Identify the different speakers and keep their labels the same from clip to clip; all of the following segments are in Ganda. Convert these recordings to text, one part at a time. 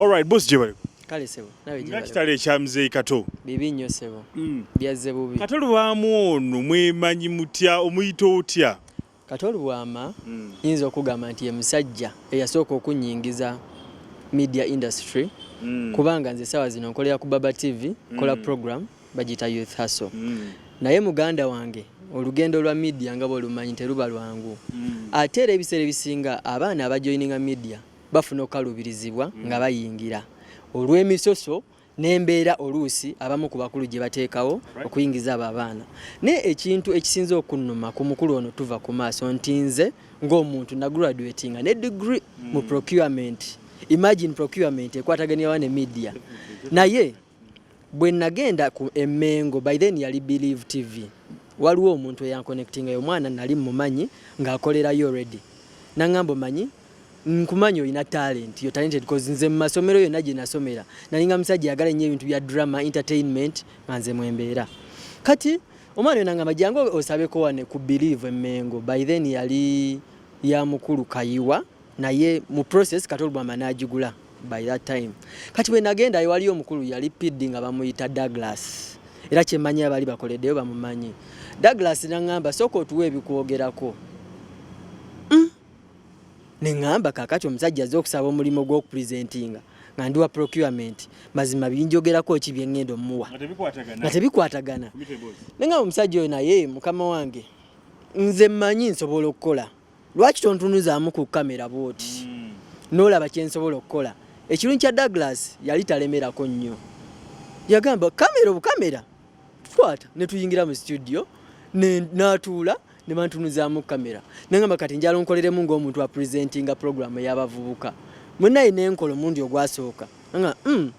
Speaker 1: Alright, boss gye bali. Kale sebo, nawe
Speaker 2: gye bali. Nakitale ekya mzeeyi Kato.
Speaker 1: Bibi nnyo sebo.
Speaker 2: Mm. Byazze bubi. Kato lubaamu ono
Speaker 1: mwemanyi mutya omuyita otya? Kato lubwama
Speaker 2: mm. yinza okugamba nti ye musajja eyasooka okunyingiza media industry mm. kubanga nze sawa zino nkolera ku Baba TV mm. kola program bagita Youth Hustle mm. naye muganda wange olugendo lwa media nga bwolumanyi teruba lwangu mm. ate era ebiseera ebisinga abaana abajoininga media bafuna okukaluubirizibwa mm. nga bayingira olw'emisoso n'embeera oluusi abamu ku bakulu gye bateekawo okuyingiza abo abaana naye ekintu ekisinze okunnuma ku mukulu ono tuva ku maaso nti nze ng'omuntu nagraduatinga ne degree mm. mu procurement imagine procurement ekwataganirawa ne media naye Bwe nagenda ku e Mengo by then yali Believe TV waliwo omuntu eyankonectinga yo mwana nali mmumanyi ng'akolerayo already nangamba omanyi nkumanyi olina talent yo talented cause nze mu masomero yonna gye nasomera nalinga musajja yagala ennyo ebintu bya drama entertainment nga nze mwembeera kati omwana yo nangamba jangu osabeko wane ku believe emengo by then yali ya mukulu kayiwa naye mu process kati olubamba n'agigula by that time kati bwe nagenda waliyo omukulu yali pidi nga bamuyita Douglas era kyemanyi abali bakoleddeyo bamumanyi Douglas nangamba sooka otuwa ebikwogerako mm. nengamba kakati omusajja azze okusaba omulimu gw'okupresentinga nga ndiwa procurement mazima binjogerako ki byengenda omuwa nga tebikwatagana nengamba omusajja oyo naye mukama wange nze manyi nsobola okukola lwaki tontunuzaamu ku kamera bwoti hmm. n'olaba kyensobola okukola ekirungi kya douglas yali talemerako nnyo yagamba kamera obukamera kwata netuyingira mu studio natuula nebantunuzaamu kamera nengamba kati njala onkoleremu ngaomuntu apresentinga programu eyabavubuka mwenaye nenkola omundi ogwasooka nga mm,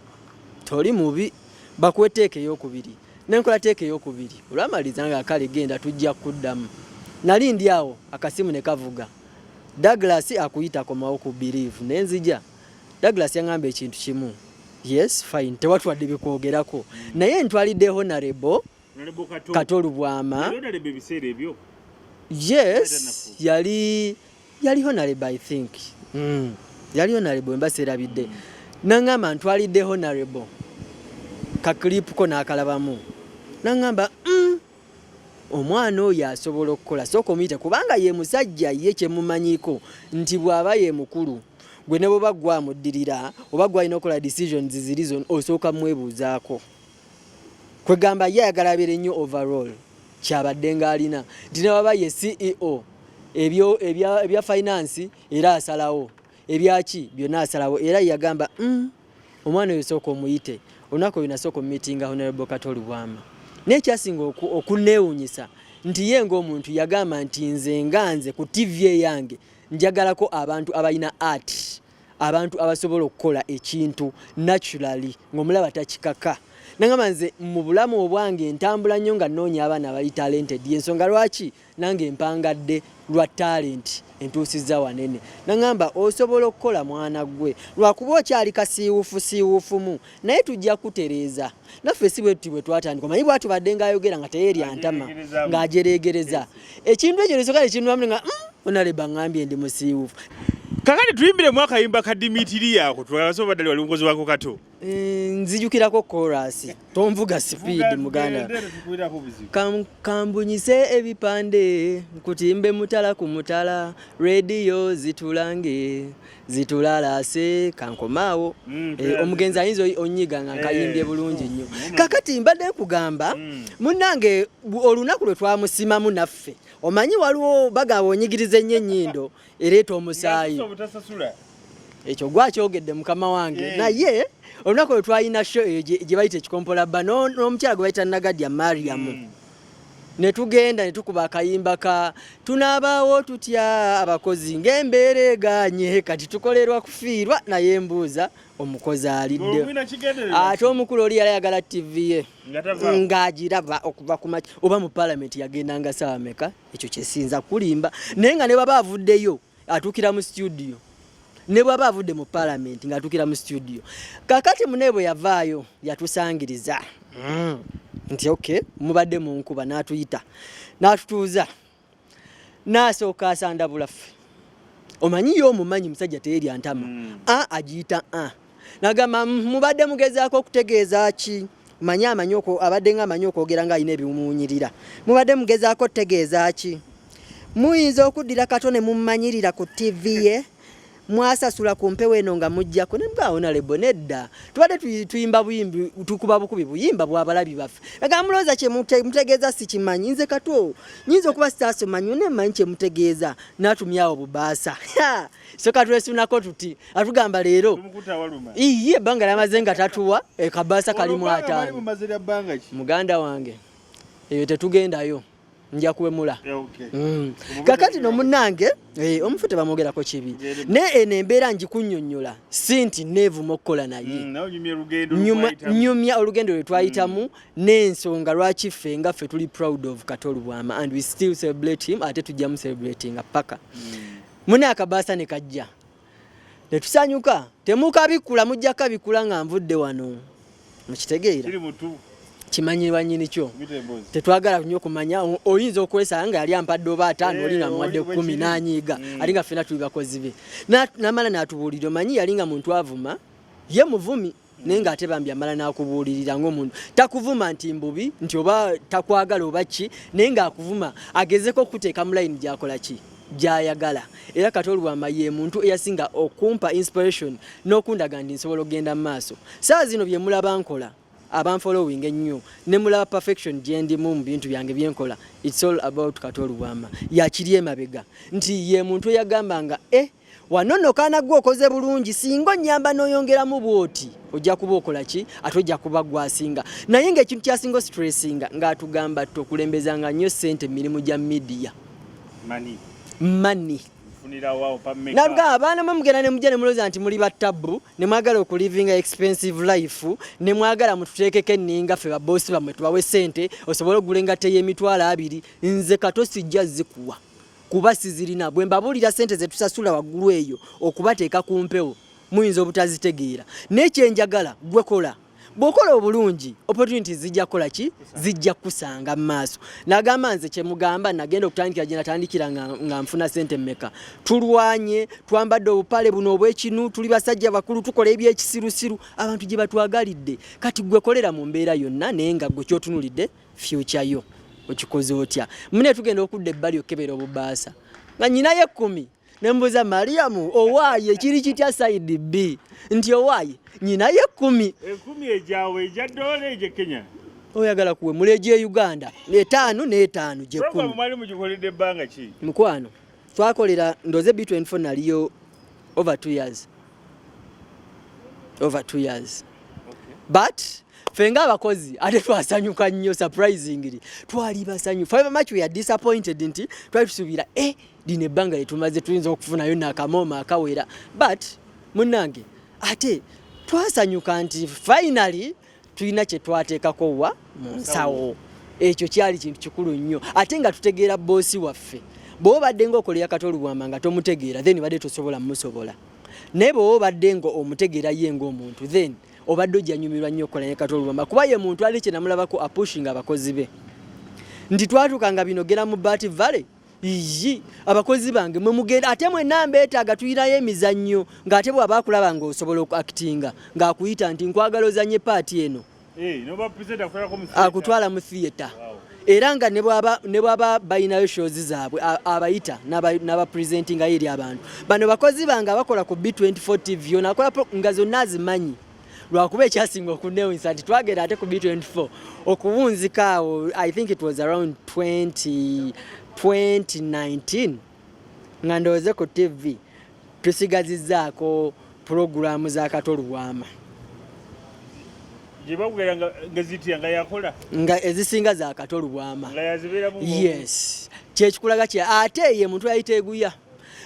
Speaker 2: toli mubi bakuweteeka eyokubiri nenkola teeka eyokubiri olwamaliza nga kale genda tujja kuddamu nali ndi awo akasimu ne kavuga Douglas akuyita komawo ku believe nenzija Douglas yangamba ekintu kimu yes fine tewatwadde bikwogerako naye ntwalidde honorable kato lubwama yes yali yali honorable i think mm. yali honorable emba serabidde mm. nangamba ntwalidde honorable kaklipu ko nakalabamu nangamba mm. omwana oyo asobola okukola sooka omuyite kubanga ye musajja ye kyemumanyiko nti bw'aba ye mukulu gwe ne bwoba gwamuddirira oba gwalina okukola decisions ziri zon osooka mwebuuzaako kwegamba ye ayagala abeere nnyo overall kyabadde ng'alina nti newaba ye ceo ebyo ebya finance era asalawo ebyaki byonna asalawo era yagamba mm, omwana oyo sooka omuyite olunaku oyo nasooka omumitinga honorable kato lubwama naye kyasinga okuneewunyisa nti ye ng'omuntu yagamba nti nze nga nze ku tivi eyange njagalako abantu abalina art abantu abasobola okukola ekintu naturally ng'omulaba takikaka nangamba nze mu bulamu obwange entambula nnyo nga nnoonya abaana abali talented yensonga lwaki nange empangadde lwa talenti entuusizza wanene nangamba osobola okukola mwana ggwe lwakuba okyali kasiiwufu siiwufumu naye tujja kutereeza naffe si bwetuti bwe twatandika omanyi bwati badde ngaayogera nga teyeerya ntama ng'ajereegereza ekintu ekyo nesoka nekinwamu nga mm, onaleba ngambye ndi musiiwufu kakati
Speaker 1: tuyimbiremu akayimba ka dimitiriya ako tubasoba baddali wali mukozi wako kato eh, nzijukirako
Speaker 2: korasi tonvuga sipiidi muganda kambunyise ebipande nkutimbe mutala ku mutala rediyo zitulange zitulalase kankomaawo mm, eh, omugenzi ayinza onyiga nga nkayimbye eh. bulungi nnyo mm. kakati mbadde nkugamba mm. munange olunaku lwe twamusimamu naffe omanyi waliwo bagaba onyigiriza ennyo ennyindo ereeta omusaayi ekyo gwakyogedde mukama wange eh. naye olunaku lwe twalina sho eyo gye bayita ekikompola bba n'omukyala gwe bayita nagadya mariamu mm. ne tugenda ne tukuba akayimba ka tunaabaawo tutya abakozi ng'embeera egaanye kati tukolerwa kufiirwa naye mbuuza omukozi alidde ate omukulu oli yali ayagala ttivi ye ng'agiraba okuva ku maki oba mu palamenti yagendanga saawa meka ekyo kyesinza kulimba naye nga ne baba avuddeyo atukira mu studio ne bwaba avudde mu parliament nga atukira mu studio kakati munebwe yavaayo yatusangiriza mm. nti okay mubadde mu nkuba n'atuyita n'atutuuza n'asooka asandabulaffe omanyi yo omumanyi musajja teyerya ntama mm. a agiyita a ah. nagamba mubadde mugezaako okutegeeza ki manyi amanyi abadde nga amanyi okwogera nga alina ebimuwunyirira mubadde mugezaako okutegeeza ki muyinza okuddira kato ne mumanyirira ku tv ye mwasasula ku mpewo eno nga mujjako nebwawona lebo nedda tubadde tuyimba buyimbi tukuba bukubi buyimba bwabalabi baffe aga mulooza kyemutegeeza sikimanyi nze katwo nyinza okuba sitaasoma nyo nemanyi kyemutegeeza natumyawo bubaasa so katwesunako tuti atugamba leero iye ebbanga lyamaze nga tatuwa e, kabaasa kalimu ataano muganda wange eyo tetugendayo nja kuwemula mm. kakati no munange eh, omufu tebamwogerako kibi naye eno embeera njikunyonyola si nti neevuma okukola naye mm, nyumya olugendo lwe twayitamu mm. n'ensonga lwaki ffe nga ffe tuli proud of katolubwama and we still celebrate him ate tujjamu celebratinga paka mune akabaasa ne kajja ne tusanyuka temukabikkula mujja kabikkula nga nvudde wano mukitegeera kimanyirwa nyini kyo tetwagala nyo kumanya oyinza okwesanga nga yali ampadde oba ataano oli nga muwadde kumi nanyiiga mm. ali nga fena tuli bakozi be namala natubuulira omanyi yali nga muntu avuma ye muvumi naye nga ate bambi amala n'akubuulirira ng'omuntu takuvuma nti mbubi nti oba takwagala oba ki naye ng'akuvuma agezeko okukuteeka mu layini gyakola ki gyayagala era kati olwama ye muntu eyasinga okumpa inspiration n'okundaga nti nsobola okugenda mu maaso saa zino bye mulaba nkola abanfolowing ennyo ne mulaba perfection gyendimu mu bintu byange byenkola its all about kati olwama yakiri emabega nti ye muntu eyagambanga e eh, Wano nno kaana gwe okoze bulungi singa onyamba n'oyongeramu bwoti ojja kuba okola ki ate ojja kuba gwasinga naye ng'ekintu kyasinga ositressinga ng'atugamba tokulembezanga nnyo ssente mu mirimu gya midiya mani nabga abaana mwe mugenda ne mujja ne mulooza nti muli battabu ne mwagala okulivinga expensive life ne mwagala mututeekeko enninga ffe baboosi bammwe tubawe ssente osobole okugula engatte y'emitwalo abiri nze kato sijja zikuwa kuba sizirina bwe mbabuulira sente ze tusasula waggulu eyo okubateeka ku mpewo muyinza obutazitegeera naye kyenjagala gwe kola bwokola obulungi opportunity zijja kukola ki zijja kukusanga mu maaso nagamba nze kyemugamba nagenda okutandikira gye natandikira nga nfuna sente mmeka tulwanye twambadde obupale buno obwekinu tuli basajja bakulu tukola ebyekisirusiru abantu gye batwagalidde kati gwekolera mu mbeera yonna naye nga gwe kyotunulidde future yo okikoze otya mune tugenda okudda ebbali okukebera obubaasa nga nyinayo ekkumi nembuuza mariyamu owaaye ekiri kitya saidi b nti owaaye nyinayo ekkumi ekumi egyawe
Speaker 1: egya dola egye kenya oyagala kuwe
Speaker 2: muleje e uganda etaano n'etaano gyekkumi
Speaker 1: mukwano
Speaker 2: twakolera ndoze b24 naliyo over 2 years over 2 years okay. but fenga abakozi ate twasanyuka nnyo surprisingly twali basanyu five much we are disappointed nti twali tusubira eh lino ebbanga lyetumaze tuyinza okufunayo nakamooma akawera but munange ate twasanyuka nti finally tulina kye twateekako wa mu nsawo ekyo kyali kintu kikulu nnyo ate nga tutegeera boosi waffe bw'oba obadde ng'okolera kata olubwama nga tomutegeera then obadde tosobola musobola naye bw'oba obadde ng'omutegeera ye ng'omuntu then obadde ojja nyumirwa nnyo okukola ne kata olubwama kuba ye muntu ali kye namulabako apushinga abakozi be nti twatuuka nga binogera mu baati valley Iyyi abakozi bange mwe mugenda ate mwe namba etaga tuyirayo emizannyo ng'ate bw'aba akulaba ng'osobola okuakitinga ng'akuyita nti nkwagala ozanye paati eno eh, akutwala mu theatre era nga ne bwaba balinayo shows zaabwe abayita n'abapresentingayo eri abantu bano bakozi bange abakola ku b24 tv yona akola nga zonna azimanyi lwakuba ekyasinga okunewunyisa nti twagenda ate ku b24 okuwunzika awo i think it was around 20, 2019 nga ndowooze ku tv tusigazizaako pulogulaamu za kato lubwama nga ezisinga za kato lubwama yes kyekikulaga kye ate ye muntu yayiteeguya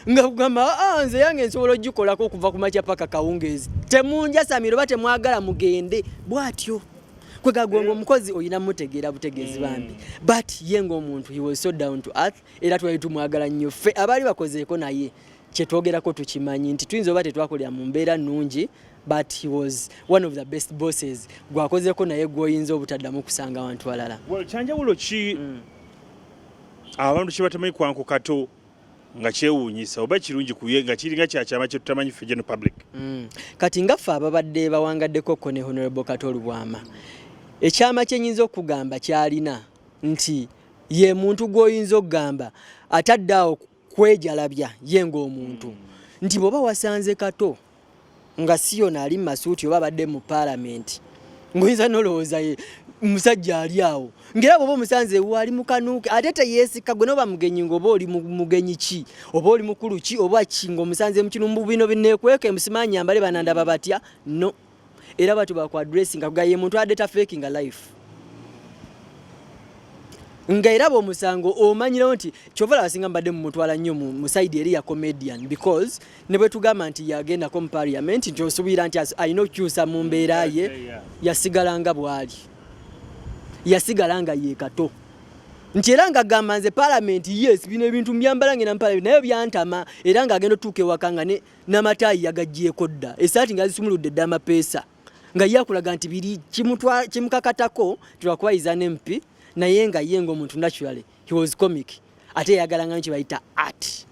Speaker 2: nga kugamba ah, ah, nze yange nsobola ogikolako okuva ku makya paka kawungeezi temunjasamira oba temwagala mugende bwatyo kwegagonga eh. omukozi olina mutegeera butegeezi hmm. bambi but ye ngaomuntu he was so down to earth era twali tumwagala nnyo ffe abaali bakozeeko naye kyetwogerako tukimanyi nti tuyinza oba tetwakolera mu mbeera nnungi but he was one of the best bosses gwakozeko naye gwoyinza obutaddamu kusanga abantu balala kyanjawulo
Speaker 1: ki
Speaker 2: hmm. abantu
Speaker 1: kyebatemanyi kwankukato nga kyewuunyisa oba kirungi kuye nga kiringa kyakyama kyetutamanyi ffe geno public mm. kati nga
Speaker 2: ffe ababadde bawangaddeko ko ne honorable kato olubwama ekyama kyenyinza okugamba kyalina nti ye muntu gwoyinza okugamba atadde awo kwejalabya ye ngaomuntu mm. nti bwoba wasanze kato nga si yona ali masuuti oba abadde mu paalamenti ngoyinza nolowooza ye musajja ali awo ngera bwoba omusanze ewo ali mukanuuke ate teyeesikka gwe noba mugenyi ngaoba oli mugenyi ki oba oli mukulu ki oba ki ngaomusanze mukinu mubino bineekweka emusimaanyambale banandaba batya no era batyo baku addressing akuga ye muntu adeta faking a life nga era bwomusango omanyirawo nti kyova laba singa mbadde mumutwala nnyo mu side eri ya comedian because ne bwe tugamba nti yagendako mu parliament nti osubiira nti alina okukyusa mu mbeera ye yasigala nga bwali yasigala nga yekato nti era nga gamba nze parliament yes bino ebintu mbyambala ngenda mu parliament naye byantama era nga agenda otuuka ewaka nga ne n'amataayi yagaggyeko dda esaati nga zisumuludde dda amapeesa nga ye akulaga nti biri kimukakatako nti lwakuba yiza n'empi naye nga ye ng'omuntu naturally he was comic ate yayagalanga nyo kyebayita art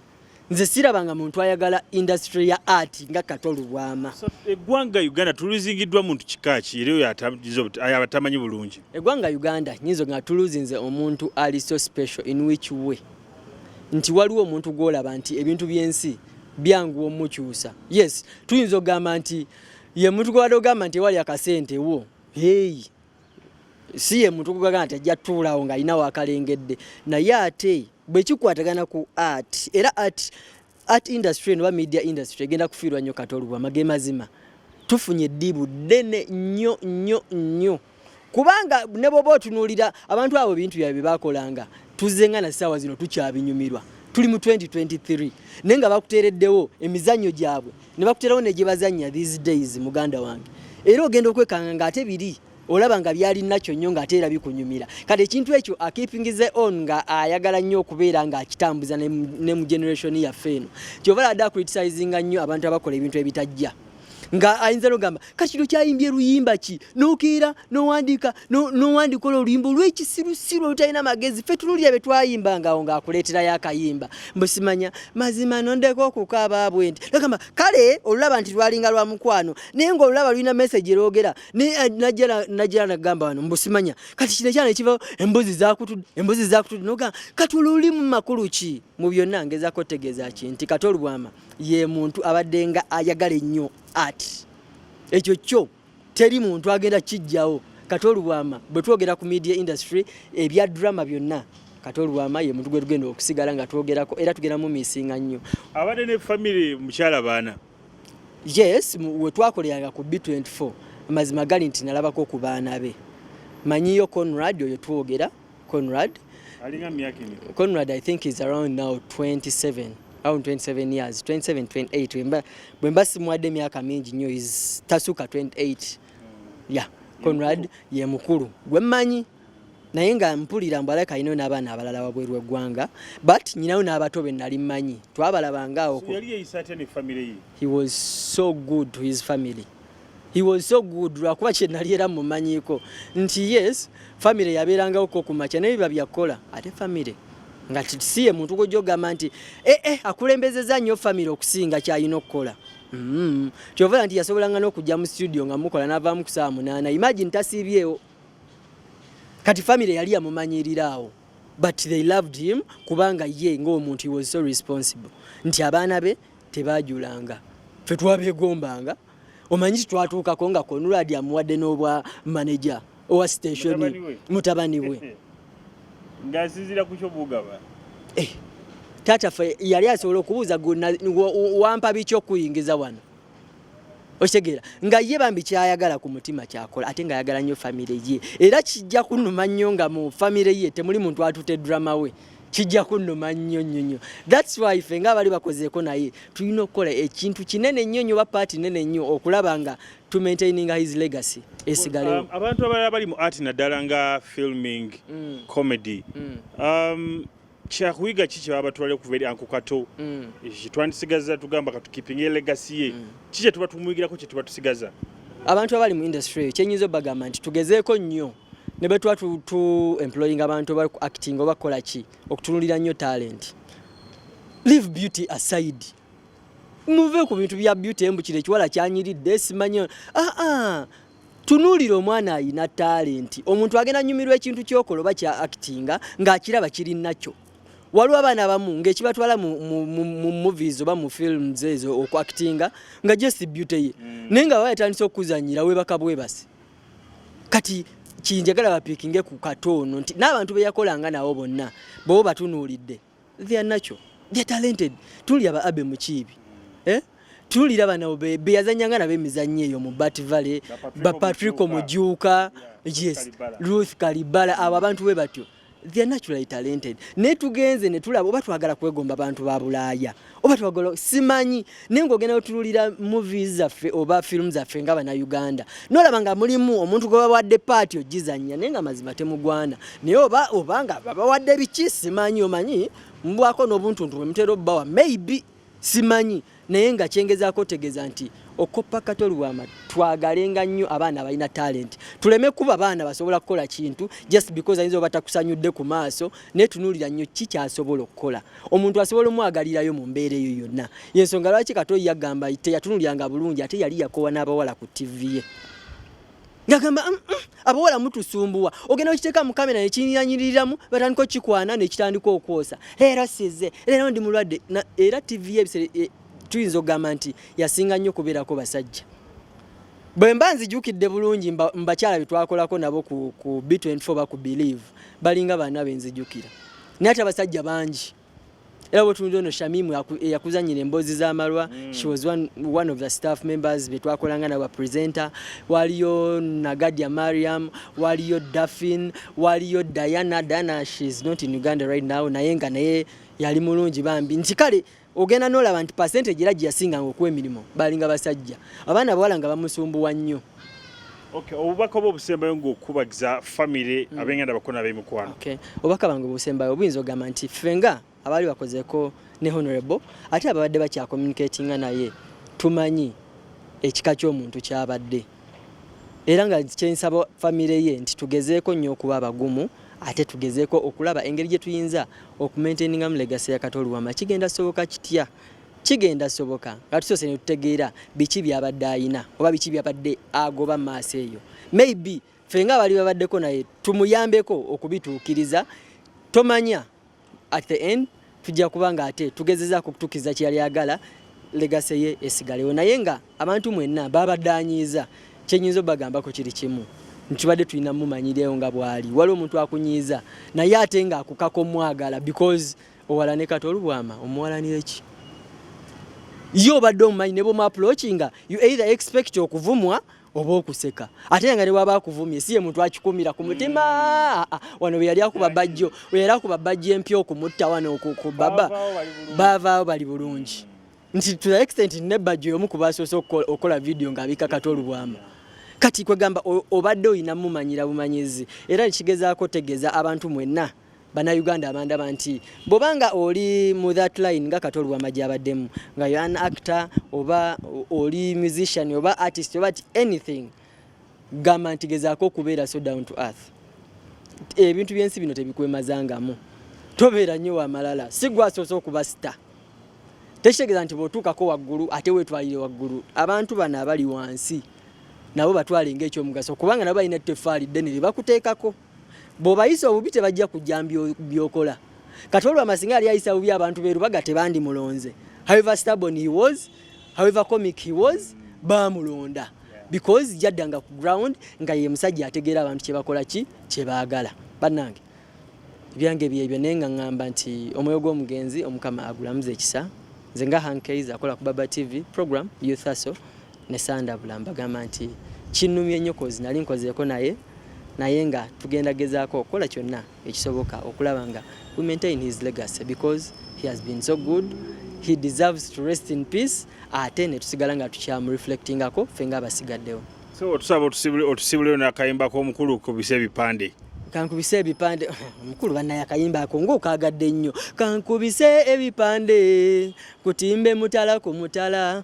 Speaker 2: nze sirabanga muntu ayagala industry ya art nga kato lubwama eggwanga
Speaker 1: uganda tuluzingiddwa muntu kika ki era oyo abatamanyi bulungi eggwanga uganda
Speaker 2: nyinza nga tuluzinze omuntu ali so special in which way nti waliwo omuntu gwolaba nti ebintu byensi byanguwa omukyusa yes tuyinza okugamba nti ye muntu gwewade ogamba nti ewali akasente wo heyi si ye muntu gwegamba nti ajja tuulawo ng'alinawo akalengedde naye ate bwekikwatagana ku art era art Art industry no media industry egenda kufiirwa nnyo kati olubwa mage mazima tufunye eddibu ddene nnyo nnyo nnyo kubanga ne bwoba otunuulira abantu abo bintu byabwe bye baakolanga tuzze nga na ssaawa zino tukyabinyumirwa tuli mu 2023 naye nga bakuteereddewo emizannyo gyabwe ne bakuteerawo ne gye bazannya these days muganda wange era ogenda okwekanga ng'ate biri olaba nga byali nakyo nnyo ng'ate era bikunyumira kati ekintu ekyo akipingize on nga ayagala nnyo okubeera ng'akitambuza ne mu generation yaffe eno kyova lada acritisayizinga nnyo abantu abakola ebintu ebitajja nga ayinza nogamba kati kino kyayimbye luyimba ki nokeera nowandika nowandikola oluyimba olwekisirusiru olutalina magezi fe tunulira bye twayimbangawo ngaakuleeterayo akayimba mbusimanya mazima nondeka okukaaba bwe nti nogamba kale olulaba nti lwalinga lwa mukwano naye ngaolulaba lulina meseji erwogera Ni eh, najala najala nagamba wano mbusimanya kati kino kyana ekiva embuzi zakutu embuzi zakutu noga kati luli mu makulu ki mu byonna ngeza ko tegeza ki nti kati olubwama ye muntu abadenga ayagale nnyo at ekyo kyo teri muntu agenda kijjawo kati olubwama bwe twogera ku media industry ebya drama byonna kati olwama ye muntu gwe tugenda okusigala nga twogerako era tugenda mu misinga nnyo abadde ne famire
Speaker 1: mukyala baana yes
Speaker 2: wetwakoleranga ku b24 amazima gali nti nalabako ku baana be manyiyo conrad oyo twogera conrad conrad i think is around now 27 around 27 years 27 28 bwe mba simwadde emyaka mingi nnyo is tasuka 28 ya yeah. conrad ye mukulu gwe mmanyi naye nga mpulira mbu alabika alinayo n'abaana abalala wabweru eggwanga but nyinayo n'abato be nali mmanyi twabalabanga awo he was so good to his family he was so good lwakuba kye nali era mumanyiko nti yes family yabeerangawo ko ku makya naye biba byakukola ate family nga si ye muntu gwojja ogamba nti ee eh, eh, akulembezeza nnyo family okusinga kyalina okukola mm-hmm. kyovera nti yasobolanga n'okujja mu studio nga mukola n'avaamu ku saawa munaana imagine tasiibyewo kati family yali yamumanyirira awo but they loved him kubanga ye ng'omuntu he was so responsible nti abaana be tebajulanga fe twabegombanga omanyi titwatuukako nga konuradi amuwadde n'obwa manaja owa station mutabani we
Speaker 1: ngasinzira kukyo bugaba eh,
Speaker 2: taata fe yali asobola okubuuza wampa biki okuyingiza wano okitegeera nga ye bambi kyayagala ku mutima kyakola ate nga ayagala nnyo famire ye era kijja kunuma nnyo nga mu famire ye temuli muntu atute drama we kijja kunuma nnyo nnyo nnyo thats why fe nga abali bakozeeko naye tulina okukola ekintu kinene nnyo nnyo oba paati nene nnyo okulaba nga to maintaining his legacy esigalewo um, abantu abalala bali mu
Speaker 1: art naddala nga filming mm. comedy mm. Um, kyakuyiga ki kyebaba batwala okuva eri anko kato mm. twandisigaza tugamba katukipinga elegasi ye mm. ki kyetuba tumuyigirako kyetuba tusigaza abantu abali mu
Speaker 2: industry eyo kyenyinza obagamba nti tugezeeko nnyo ne bwe tuba tu employing abantu oba acting oba kukola ki okutunulira nnyo talent leave beauty aside muve ku bintu bya beauty embu kino ekiwala kyanyiridde simanyi aa ah, ah. Tunuulira omwana alina talenti. Omuntu agenda nyumirwa ekintu kyokola oba kya actinga ng'akiraba kiri nakyo. Waliwo abaana abamu ng'ekibatwala mu, mu, mu, mu movies oba mu films ezo oku actinga nga just beauty ye mm. naye nga baba yatandise okuzanyira webaka bwebasi kati kinjagala bapikinge ku kato ono nti n'abantu be yakolanga nabo bonna bobo batunuulidde. they are natural they are talented tulya ba abe mukiibi eh tulira bano be beyazanya ngana be mizanyo eyo mu bat valley ba patrick omujuka yes ruth kalibala abo abantu be batyo they are naturally talented ne tugenze ne tulaba oba twagala kwegomba abantu ba bulaya oba twagala simanyi naye ng'ogenda otululira movies zaffe oba firimu zaffe nga banauganda nolaba nga mulimu omuntu gwe bawadde paati ogizannya naye nga mazima temugwana naye oba obanga babawadde biki simanyi omanyi mbwako n'obuntuntu bwe mutera obbawa maybe simanyi naye nga kyengezaako otegeeza nti okoppa kato lwama twagalenga nnyo abaana abalina talenti tuleme kuba baana basobola kukola kintu just because ayinza obatakusanyudde ku maaso naye tunuulira nnyo ki kyasobola okukola omuntu asobola omwagalirayo mu mbeera eyo yonna yensonga lwaki kato yagamba teyatunulyanga bulungi ate yali yakowa n'abawala ku tivi ye ngagamba mm, mm, abawala mutusumbuwa ogenda okiteeka mu kamera nekinyanyiriramu batandika okikwana nekitandika okwosa leero size leero ndi mulwadde era tivi ye ebisere e, tuyinza okugamba nti yasinga nnyo okubeerako basajja bwe mba nzijukidde bulungi mbakyala betwakolako nabo ku b24 ba ku believe balinga baana benzijukira naye ate abasajja bangi era wetunula ono shamimu eyakuzanyira eh, emboozi z'amalwa mm. she was one, one of the staff members betwakolanga nabo bapresenter waliyo nagadia mariam waliyo daffin waliyo diana diana she is not in uganda right now naye nga naye yali mulungi bambi nti kale ogenda nolaba nti percentage era gyeyasinganga okuwa emirimu balinga basajja abaana abawala nga bamusumbuwa nnyo Okay,
Speaker 1: obubaka oba obusembayo ngaokukubagiza famire mm. abenganda bakona abemikwano okay. obubaka bange
Speaker 2: obusembayo obuyinza ogamba nti ffe nga abaali bakozeko ne honorable ate ababadde bakyakomunicatinga naye tumanyi ekika ky'omuntu kyabadde era nga kyensaba famire ye nti tugezeeko nnyo okuba abagumu ate tugezeeko okulaba engeri gye tuyinza okumaintainingamu legasi ya kato oluwama kigenda soboka kitya kigenda soboka nga tusoose ne tutegeera biki byabadde ayina oba biki byabadde agoba maaso eyo maybe ffe nga abali babaddeko naye tumuyambeko okubituukiriza tomanya at the end tujja kuba nga ate tugezezaako okutukiza kyeyali agala legase ye esigalewo naye nga abantu mwenna babadanyiiza kyenyinza obagambako kiri kimu ntibadde tulina mumanyireyo nga bwali wali omuntu akunyiiza naye ate nga akukaka omwagala because owalane kati olubwama omuwalanire ki ye obadde omumanyi ne bwomuapulokinga you either expect okuvumwa oba okuseka ate nga newaba akuvumye siye muntu akikumira ku mutima mm. ah, ah. wano beyali akuba bajjo weyali akuba bajjo empya okumutta wano ku baba bavaawo bali bulungi nti to the extent ne bajjo yomu kubasoose okukola vidiyo ng'abikakata olubwama kati kwegamba obadde olina mumanyira bumanyizi era nekigezaako tegeza abantu mwenna Bannayuganda abandaba nti bw'obanga oli mu that line nga Kato Lwamagi abaddemu nga you an actor oba oli musician oba artist oba anything gamba nti gezaako okubeera so down to earth ebintu by'ensi bino tebikwemazangamu tobeera nnyo wamalala si gwasoose okuba sita tekitegeeza nti bw'otuukako waggulu ate weetwalire waggulu abantu bano abali wansi nabo batwale ng'ekyomugaso kubanga nabo balina etteffaali ddene lye bakuteekako bwobayisa obubi tebajja kujja byokola kati olwo amasinga yali ayisa bubi abantu berubaga tebandi mulonze however stubborn he was however comic he was bamulonda because jaddanga ku ground nga ye musajja ategeera abantu kyebakola ki kyebaagala bannange ebyange byebyo naye nga ŋŋamba nti omwoyo gw'omugenzi omukama agulamuza ekisa nze nga hankeiza akola ku baba tv program youth hustle ne sandabula mbagamba nti kinnumye nnyo kozi nali nkozeeko naye naye nga tugenda gezaako okukola kyonna ekisoboka okulaba nga we maintain his legacy because he has been so good he deserves to rest in peace ate ne tusigala nga tukyamu reflectingako ffe nga abasigaddewo so otusaba
Speaker 1: otusibuleo nakayimba komukulu kubisa ebipande kankubise ebipande
Speaker 2: mukulu banaye akayimba ako ngaokagadde nnyo kankubise ebipande kutimbe mutala ku mutala